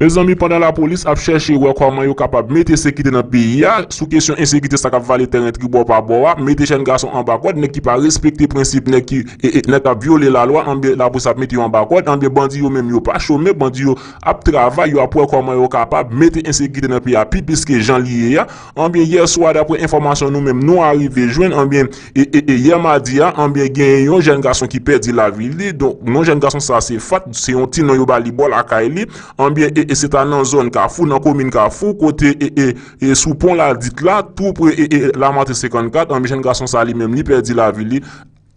Mezanmi pandan lapolis ap chèche wè kòman yo kapab mete sekite nan peyi a, sou kesyon ensekite sa kap vale tèren tribò pa bò a, mete jèn gason anba kòd, nèg ki pa respekte prensip nèg ki nèg kap vyole lalwa anbyen lapolis ap mete yo anba kòd anbyen bandi yo menm yo pa chome bandi yo ap travay yo ap wè kòman yo kapab mete ensekite nan peyi a pi plis ke jan li ye a. Anbyen yè swa daprè enfòmasyon nou menm nou arive jwenn anbyen e yè madi a anbyen genyen yon jèn gason ki pèdi lavi li donk non jèn gason sa se Fatt se yon ti non yo ba li bò lakay li anbyen e se ta nan zòn kafou nan komin kafou kote e sou pon ladit la tou pre e lamatrin 54 anbyen jèn gason sa li menm li pèdi lavi li.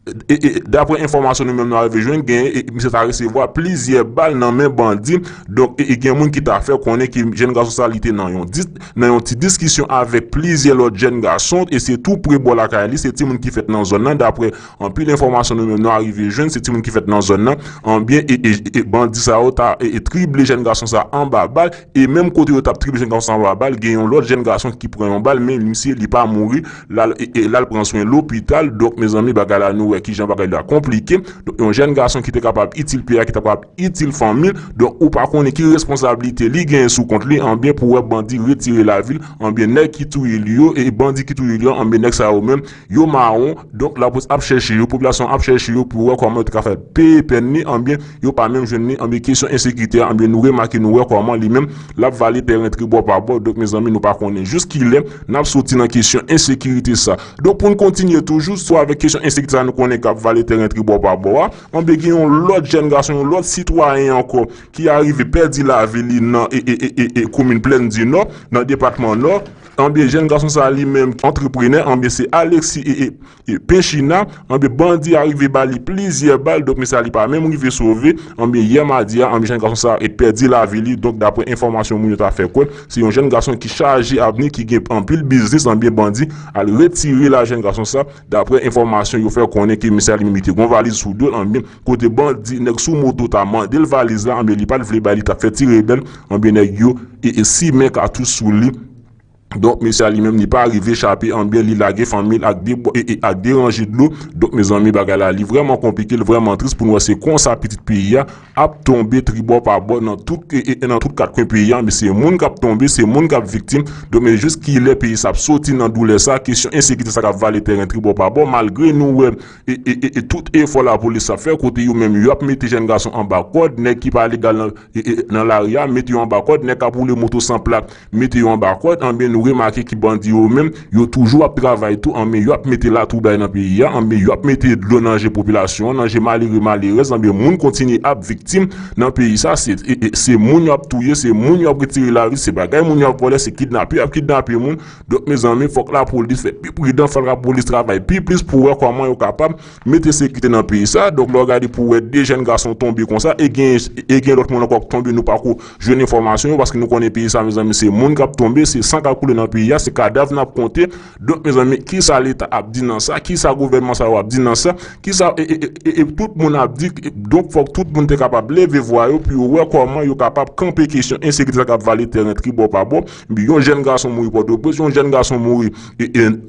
Daprè enfòmasyon nou menm nou arive jwenn gen misye ta resevwa plizyè bal nan men bandi donk gen moun ki ta fè konnen ke jèn gason sa li te nan yon ti diskisyon avèk plizyè lòt jèn gason e se tou pre bò lakay li se ti moun ki fèt nan zòn nan daprè anpil enfòmasyon nou menm nou arive jwenn se ti moun ki fèt nan zòn nan anbyen e bandi sa yo ta trible jèn gason sa anba bal e menm kote yo tap trible jèn gason sa anba bal gen yon lòt jèn gason ki pran yon bal men misye li pa mouri. Lal pran swen lopital donk mezanmi bagay la nou wè kijan bagay la konplike donk yon jèn gason ki te kapab itil peyi a ki ta kapab itil fanmi l donk ou pa konnen ki responsablite li genyen sou kont li anbyen pou wè bandi retire lavi l anbyen nèg ki touye li yo e bandi ki touye li yo anbyen nèg sa yo menm yo mawon donk lapolis ap chèche yo popilasyon ap chèche yo pou wè kòman yo te ka fè peye pèn li anbyen Yo pa menm jwenn li anbyen kesyon ensekirite a anbyen nou remake nou wè kòman li menm lap vale pè rentre bò pa bò donk mezanmi nou pa konnen jous kilè nap soti nan kesyon ensekirite sa donk poun kontinye toujou sou avèk kesyon ensekirite sa nou konnen kap vale tè rentre bò pa bò a anbyen gen yon lòt jèn gason yon lòt sitwayen ankò ki arive pèdi lavi li nan ee komin plèn di nò nan depatman nò anbyen jèn gason sa li menm antreprenè anbyen se Alexis ee Epe china, anbyen bandi a rive ba li plizyè bal, donk mesye a li pa menm rive sove, anbyen yè madi a, anbyen jenn gason sa e pèdi lavi li, donk daprè enfòmasyon moun yo ta fè kwè, se yon jenn gason ki chaje avni ki gen anpil biznis anbyen bandi al retire la jenn gason sa, daprè enfòmasyon yo fè konnen ke mesye a li menm li te gon valiz sou dol anbyen kote bandi nèg sou moto ta mandel valiz la anbyen li pat vle bay li tap fè ti rebèl anbyen nèg yo e simen katouch sou li. Donk mesye a li menm li pa rive chape anbyen li lage fanmil ak de bwa e e ak de ranje dlo donk mezanmi bagay la li vrèman konplike li vrèman tris pou nou wè se konsa pitit peyi a ap tonbe tribò pa bò nan tout e e nan tout kat kwen peyi a mesye moun kap tonbe se moun kap viktim donk mesye jis kilè peyi sa ap soti nan doulè sa kesyon ensekite sa kap vale tèren tribò pa bò malgre nou wè e e e e tout efò lapolis ap fè kote yo menm yo ap mete jèn gason anba kòd nèg ki pa legal nan e e nan lari a mete yo anba kòd nèg kap woule moto san plak mete yo anba kòd anben nou remake ki bandi yo menm yo toujou ap travay tou anben yo ap mete latwoublay nan peyi a anben yo ap mete dlo nan je popilasyon an nan je malere malerèz anben moun kontinye ap viktim nan peyi sa se se moun yo ap touye se moun yo ap retire lavi se bagay moun yo ap vòlè se kidnape yo ap kidnape moun donk mezanmi fòk lapolis fè pi pridan fòk lapolis travay pi plis pou wè kòman yo kapab mete sekite nan peyi sa donk lè w gade pou wè 2 jèn gason tonbe konsa e gen e gen lòt moun ankò k tonbe nou pako Jwenn enfòmasyon yo paske nou konnen peyi sa mezanmi se moun kap tonbe, se san kap koule nan peyi a, se kadav nap konte, donk mezanmi kisa leta ap di nan sa, kisa gouvènman sa yo ap di nan sa, kisa e tout moun ap di, donk fòk tout moun te kapab leve vwa yo pou yo wè kòman yo kapab kanpe kesyon ensekirite sa kap vale tèren tribò pa bò, yon jèn gason mouri pòtoprens, yon jèn gason mouri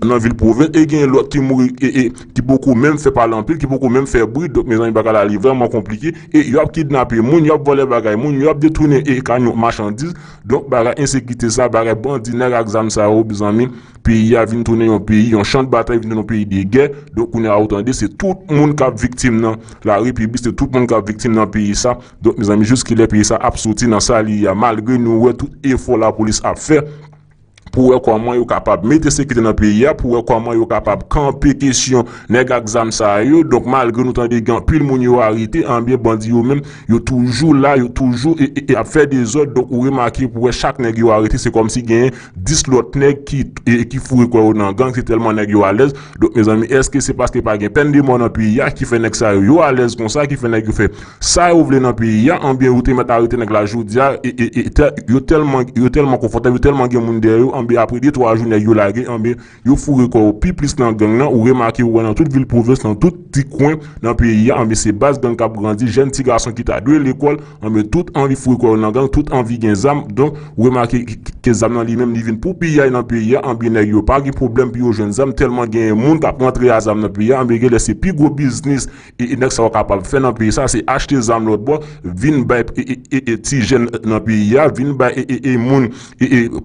nan vil pwovens e genyen lòt ki mouri ki poko menm fè pale anpil, ki poko menm fè bri, donk mezanmi bagay la li vrèman konplike. e yo ap kidnape moun, yo ap vòlè bagay moun, yo ap detounen e kamyon machandiz, donk bagay ensekirite sa, bagay bandi nèg ak zam sa yo mezanmi peyi a vin tounen yon peyi yon chan de batay vin tounen yon peyi de gè, donk kounye a ou tande se tout moun kap viktim nan lari pibi se tout moun kap viktim nan peyi sa, donk mezanmi jiskilè peyi sa ap soti nan sa li ye a malgre nou wè tout efò lapolis ap fè. pou wè kòman yo kapab mete sekirite nan peyi a, pou wè kòman yo kapab kanpe kesyon nèg ak zam sa yo. Donk malgre nou tande gen anpil moun yo arete, enben bandi yo menm yo toujou la, yo toujou ap fè dezòd. Donk ou remake pou wè chak nèg yo arete se kòmsi genyen 10 lòt nèg ki foure kò yo nan gang se tèlman nèg yo alèz. Donk mezanmi èske se paske pa gen pèn de mò nan peyi a ki fè nèg sa yo yo alèz konsa, ki fè nèg yo fè. Sa yo vle nan peyi a anbyen yo te mèt arete nèg la jodia yo tèlman konfòtab yo tèlman gen moun dèyè yo anbyen apre de twa jou nèg yo lage anbyen yo foure kò yo pi plis nan gang nan ou remake ou wè nan tout vil pwovens nan tout ti kwen nan peyi a anbyen se baz gang kap grandi jèn ti gason ki ta dwe lekòl anbyen tout anvi foure kò yo nan gang tout anvi gen zam donk ou remake ke zam nan li menm li vin pou piyay nan peyi a anbyen nèg yo pa gen pwoblèm pou yo jwenn zam tèlman genyen moun kap rantre a zam nan peyi a anbyen genlè se pi gwo biznis E nèg sa yo kapab fè nan peyi sa se achte zam lòt bò vin bay ti jèn nan peyi a vin bay moun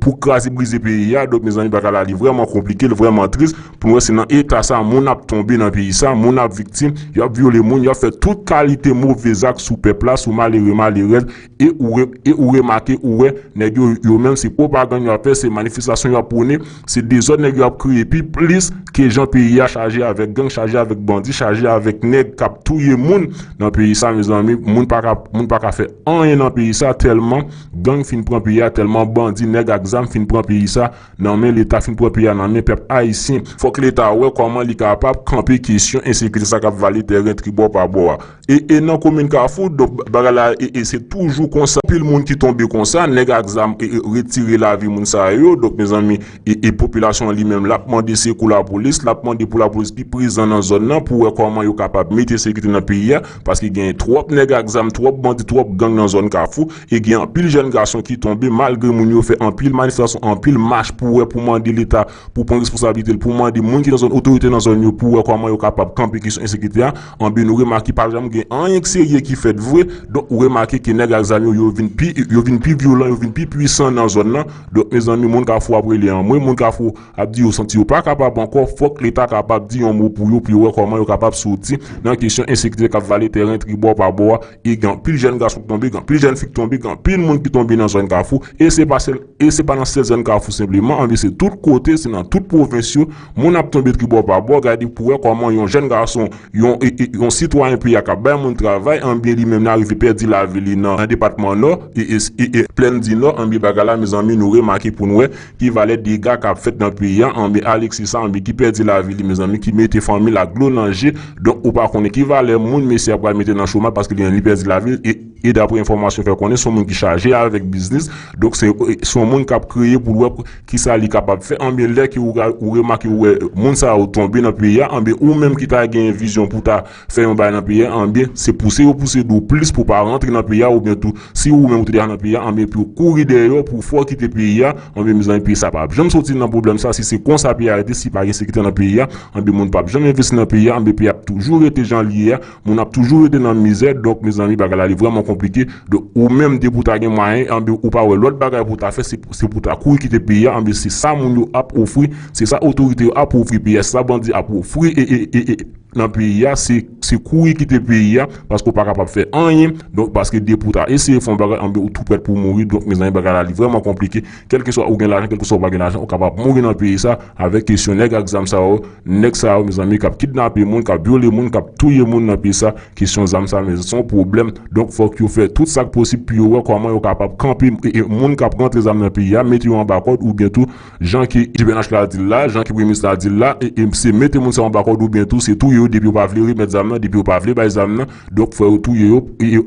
pou kraze brize peyi a donk mezanmi bagay la li vrèman konplike li vrèman tris pou nou wè se nan eta sa moun ap tonbe nan peyi sa moun ap viktim y ap vyole moun y ap fè tout kalite move zak sou pèp la sou malere malerèz E ou remake ou wè nèg yo yo menm se pwopagann yo ap fè se manifestasyon yo ap pwone se dezòd nèg yo ap kreye pi plis ke jan peyi a chaje avèk gang chaje avèk bandi chaje avèk nèg k ap touye moun nan peyi sa mezanmi moun pa ka moun pa ka fè anyen nan peyi sa tèlman gang fin pran peyi a tèlman bandi nèg ak zam fin pran peyi sa nan men leta fin pran peyi a nan men pèp ayisyen. Fòk leta wè kòman li kapab kanpe kesyon ensekirite sa k ap vale tèren tribò pa bò a E nan komin kafou donk bagay la e se toujou konsa anpil moun ki tonbe konsa nèg ak zam e retire lavi moun sa yo donk mezanmi e popilasyon an li menm lap mande sekou lapolis lap mande pou lapolis pi prezan nan zòn nan pou wè kòman yo kapab mete sekite nan peyi a paske gen twòp nèg ak zam twòp bandi twòp gang nan zòn kafou e gen anpil jèn gason ki tonbe malgre moun yo fè anpil manifestasyon anpil mach pou wè pou mande leta pou pran responsabilite l pou mande moun ki nan zòn otorite nan zòn yo pou wè kòman yo kapab kanpe kesyon ensekite a Anben nou remake pa janm gen anyen k serye ki fèt vre, donk ou remake ke nèg ak zam yo yo vin pi yo vin pi vyolan yo vin pi pwisan nan zòn lan, donk mezanmi moun kafou ap rele anmwe moun kafou ap di yo santi yo pa kapab ankò fòk leta kapab di yon mo pou yo pou yo wè kòman yo kapab soti nan kesyon ensekite kap vale tèren tribò pa bò a. e gen anpil jèn gason ki tonbe, gen anpil jèn fi ki tonbe, gen anpil moun ki tonbe nan zòn Kafou e se pa sèl, e se pa nan sèl zòn Kafou senpleman anvi se tout kote, se nan tout pwovens yo moun ap tonbe tribò pa bò, gade pou wè kòman yon jèn gason, yon, yon sitwayen peyi a k ap bay moun travay anbyen li menm li arive pèdi lavi li nan depatman Nò e e plenn di Nò anbyen bagay la mezanmi nou remake pou n wè Ki valè dega kap fèt nan peyi a anbe Alexis sa anbe ki pèdi lavi li mezanmi ki mete fanmil ak dlo nan je donk ou pa konnen ki valè moun mesye a pral mete nan chomaj paske li menm li pèdi lavil e daprè enfòmasyon fè konnen son moun ki chaje avèk biznis donk se son moun kap kreye poul wè kisa li kapab fè anbe lè ke ou remake ou wè moun sa yo tonbe nan peyi a anbe ou menm ki ta gen vizyon pou ta Fè yon bagay nan peyi a anbyen se pouse yo pouse do w plis pou w pa rantre nan peyi a oubyen tou si ou menm ou te deja nan peyi a anbyen epi ou kouri dèyè yo pou w fè w kite peyi a anbyen mezanmi peyi sa pap janm soti nan pwoblèm sa si se konsa peyi a rete si pa gen sekirite nan peyi a anbyen moun pap janm envesti nan peyi a anbyen peyi a ap toujou rete jan l ye a moun ap toujou rete nan mizè donk mezanmi bagay la li vrèman konplike donk ou menm depi w ta gen mwayen anbyen ou pa wè lòt bagay pou w ta fè se pou w ta kouri kite peyi a anbyen se sa moun yo ap ofri se sa otorite yo ap ofri peyi a se sa bandi ap ofri e e e. nan peyi a se se kouri kite peyi a paske ou pa kapab fè anyen donk paske depi ou ta eseye fè yon bagay anben ou tou prèt pou mouri donk mezanmi bagay la li vrèman konplike kèlkeswa ou gen lajan kèlkeswa ou pa gen lajan ou kapab mouri nan peyi sa avèk kesyon nèg ak zam sa yo nèg sa yo mezanmi kap kidnape moun kap vyole moun kap touye moun nan peyi sa kesyon zam sa mezanmi son pwoblèm donk fòk yo fè tout sak posib pou yo wè kòman yo kapab kanpe moun kap rantre zam nan peyi a mete yo anba kòd oubyen tou Jan ke jpnh la dil la, jan ke premye minis la dil la, se mete moun sa yo anba kòd ou byen tou se touye yo depi yo pa vle remèt zam nan, depi yo pa vle bay zam nan, donk fò yo touye yo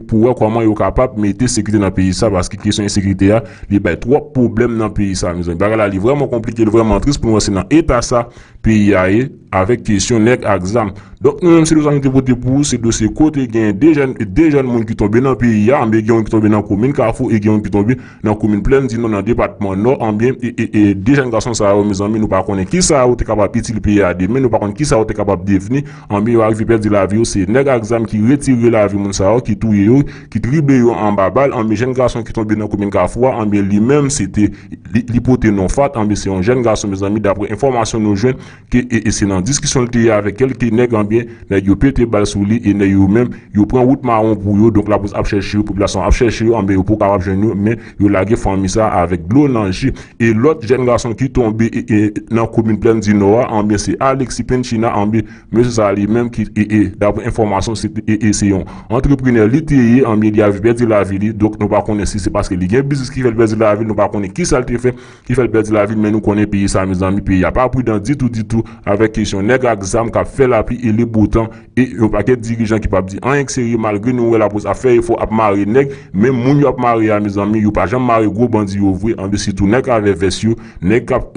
pou wè kòman yo kapab mete sekirite nan peyi sa paske kesyon ensekirite a li bay twòp pwoblèm nan peyi sa mezanmi. Bagay la li vrèman konplike, li vrèman tris pou nou wè se nan eta sa peyi a ye avèk kesyon nèg ak zam. Donk nou menm se dosye sa nou te pote pou ou, se dosye kote gen 2 jèn moun ki tonbe nan peyi a, anben gen yon ki tonbe nan komin kafou e gen yon ki tonbe nan komin Plèn Dinan nan depatman Nò an byen e de jèn gason sa yo mezanmi nou pa konnen kisa yo te kapab itil peyi a demen nou pa konn kisa yo te kapab devni an byen yo arive pèdi lavi yo se nèg ak zam ki retire lavi moun sa yo ki touye yo ki drible yo anba bal an byen jèn gason ki tonbe nan komin Kafou a an byen li menm se te li pote non Fat an byen se yon jèn gason mezanmi daprè enfòmasyon nou jwenn ke e e se nan diskisyon l te ye avèk kèlke nèg anbyen nèg yo pete bal sou li e nèg yo menm yo pran wout mawon pou yo donk lapolis ap chèche yo popilasyon an ap chèche yo anbyen yo poko kapab jwenn yo men yo lage fanmi sa avèk dlo nan je e lòt jèn gason ki tonbe e e nan komin plèn di nò a anbyen se Alexis Pencina anbyen mesye sa li menm ki e e daprè enfòmasyon se te e e se yon antreprenè li te ye anbyen li avi pèdi lavi li donk nou pa konnen si se paske li gen biznis ki fè l pèdi lavi l nou pa konnen kisa l te fè. ki fèl pèdi lavil men nou konnen peyi sa mezanmi peyi a pa pridan ditou ditou avèk kesyon nèg ak zam kap fè lapli e le botan e yon pakèt dirijan ki pap di anyen k serye malgre nou wè lapolis ap fè efò ap mare nèg men moun yo ap mare a mezanmi yo pa janm mare gwo bandi yo vre anben sitou nèg avè vès yo nèg kap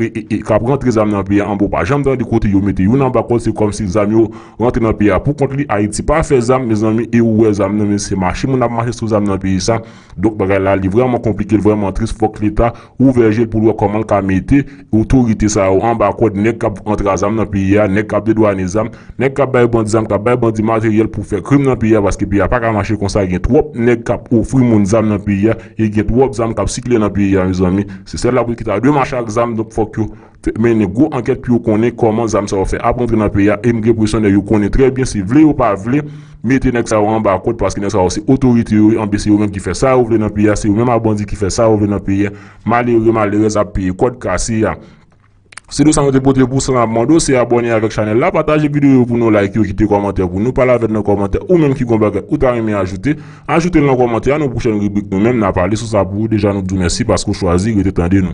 kap rantre zam nan peyi a anben w pa janm tande kote yo mete youn anba kòd se kòmsi zam yo rantre nan peyi a pou kont li ayiti pa fè zam mezanmi e ou wè zam nan men se mache moun ap mache sou zam nan peyi sa. Donk bagay la li vrèman konplike li vrèman tris fòk leta ouvè je l pou l wè kòman l ka mete otorite sa yo anba kòd nèg k ap antra zam nan peyi a nèg k ap dedwane zam nèg k ap bay bandi zam k ap bay bandi materyèl pou fè krim nan peyi a paske peyi a pa ka mache konsa gen twòp nèg k ap ofri moun zam nan peyi a e gen twòp zam k ap sikile nan peyi a mezanmi se sèl lapolis ki ta dwe mache ak zam donk fòk yo mennen gwo ankèt pou yo konnen kòman zam sa yo fè ap rantre nan peyi a e m gen presyon nèg yo konnen trè byen si vle yo pa vle mete nèg sa yo anba kòd paske nèg sa yo se otorite yo ye anben se yo menm ki fè sa yo vle nan peyi a se yo menm a bandi ki fè sa yo vle nan peyi a malere malerèz ap peye kòd kase a. Se de sa nou te pote pou slan ap mande w se abòne avèk chanèl la pataje videyo yo pou nou like yo kite kòmantè pou nou pale avè n nan kòmantè ou menm ki gon bagay ou ta renmen ajoute ajoute l nan kòmantè a nan pwochèn ribrik nou menm na pale sou sa pou ou deja nou di w mèsi paske w chwazi rete tande nou.